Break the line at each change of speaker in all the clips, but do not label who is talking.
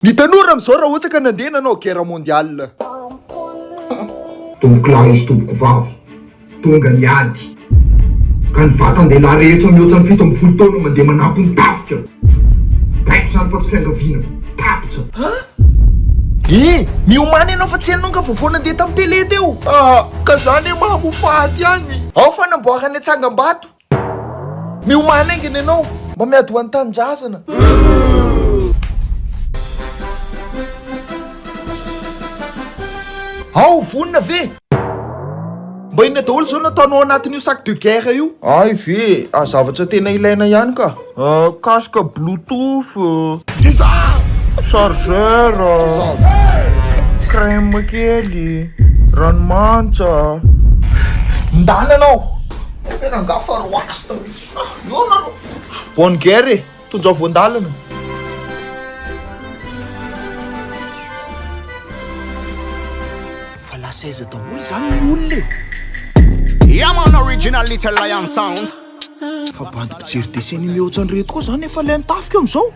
Ny tanora amizao raha ohatra ka nandeha nanao guerre mondiale.
Tompoko lahy sy tompoko vavy, tonga ny ady ka ny vatan-dehilahy rehetra mihoatra ny fito ambin'ny folo taona mandeha manampy ny tafika. Baiko izany fa tsy fiangaviana. Tapitra. Ah! Eh!
Miomana ianao fa tsy ianao nga vao vao nandeha tam tele teo? Ah! Ka za anie mahamofaty ihany. Ao fanamboarana tsangambato. Miomany haingana ianao mba miady ho an'ny tanindrazana. Ao vonona ve? Mba inona daholo izao no ataonao anatin'io sac de guerre io? Hay ve? Zavatra tena ilaina ihany ka. Casque bluetooth, chargeur, crème kely, ranomantsa. Ndana anao fe rangah fa roasta mitsy ah eo nareo. Bonne guerre e! Tonjao voandalana. Fa lasa aiza daholo zany ny olona e!
Yeah man, original little lion sound. Fa bandy
mpijery dessin animé ohatran'ny reto koa zany efa lay mitafika eo amizao?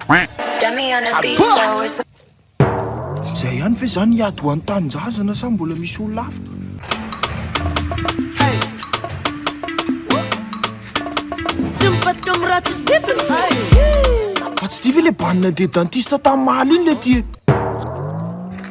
Tsy izay ihany ve zany hiady ho an'ny tanindrazana sa mbola misy olona hafa? Fa tsy ity ve le bandy nandeha dentiste tamin'ny maly iny le ty e?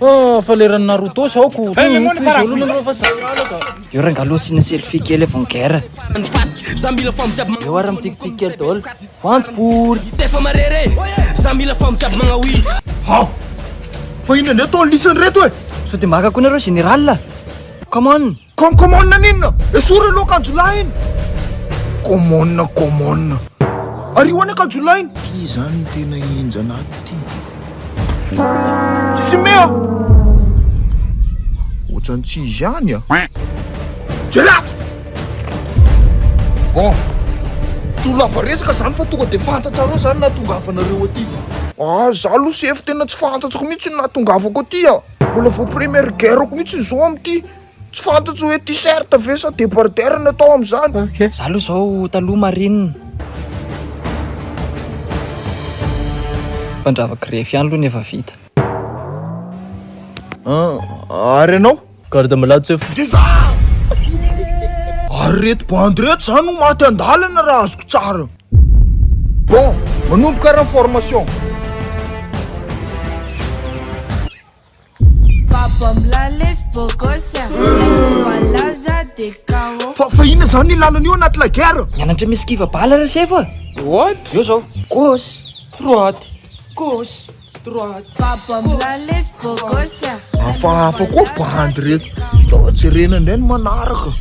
Oh, fa leran'i Naruto sa aoko. Eo rangalao sina selfie kely avy guerre. Za mila fam jiaby magna. Eo ara mitsikitsiky kely daholo. Vantso bory. Hitsy efa marere. Za mila fam jiaby magna oui. Ha!
Fa inona ndray atao lisany reto e? Sao dia maka koa nareo
général? Come on. Komkomon n'inona?
Esory aloha akanjolahy iny! Komon komon. Ario any akanjolahy iny! Ty izany no tena henjana ato ty. Tsisy mea! Ohatrany tsy izy ihany a! Jereo ato! Bon, tsy ho lava resaka izany fa tonga dia fantatsareo izany nahatongavanareo aty. Ah, izaho aloha sefo tena tsy fantatsiko mihitsy ny nahatongavako aty a! Mbola vao première guerre-ko mihitsy izao amin'ity. Tsy fantatro hoe t-shirt ve sa débardeur no atao amin'izany. Za aloha zao
taloha marine. Mpandrava grefy ihany aloha ny efa vita.
Ah, ary ianao? Garde malade chef.
Dia za!
Ary reto bandy reto zany no maty an-dalana raha azoko tsara. Bon, manomboka ary ny formation. Baba Mlales Bogosia, Laza de Kao. Fa fa inona zany ny lalana io anaty la guerre? Mianatra misy kiva bala
resy evo a! Droite. Eo zao. Gauche. Droite. Gauche.
Hafahafa koa bandy reto. Sao jerena indray ny manaraka.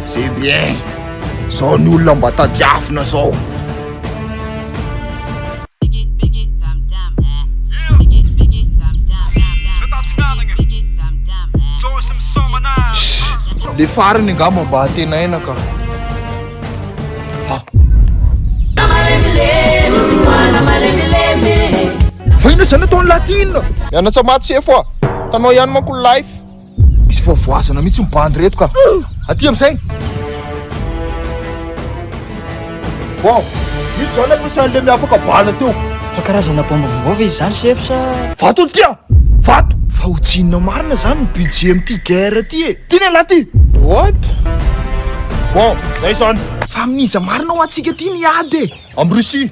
C'est bien. Zao ny olona mba tadiavina zao. Le farany angamba mba antenaina ka. Fa inona izany ataon'i Latina? Mianatsa maty sefo ah! Tanao ihany manko ny life! Misy voavoazana mihitsy ny bandy reto ka! Aty amin'izay! Wow! Io izany ampiasan'ilay miafaka bala teo! Fa karazana baomba
vaovao ve izy izany sefo sa? Vato ity ah!
Vato! Fa ho tsinona marina izany ny budget amin'ity guerre ity e! Ty lehilahy ty! What? Bon, zay zany. Fa amin'iza marina ho antsika ty ny ady e? Am Russie.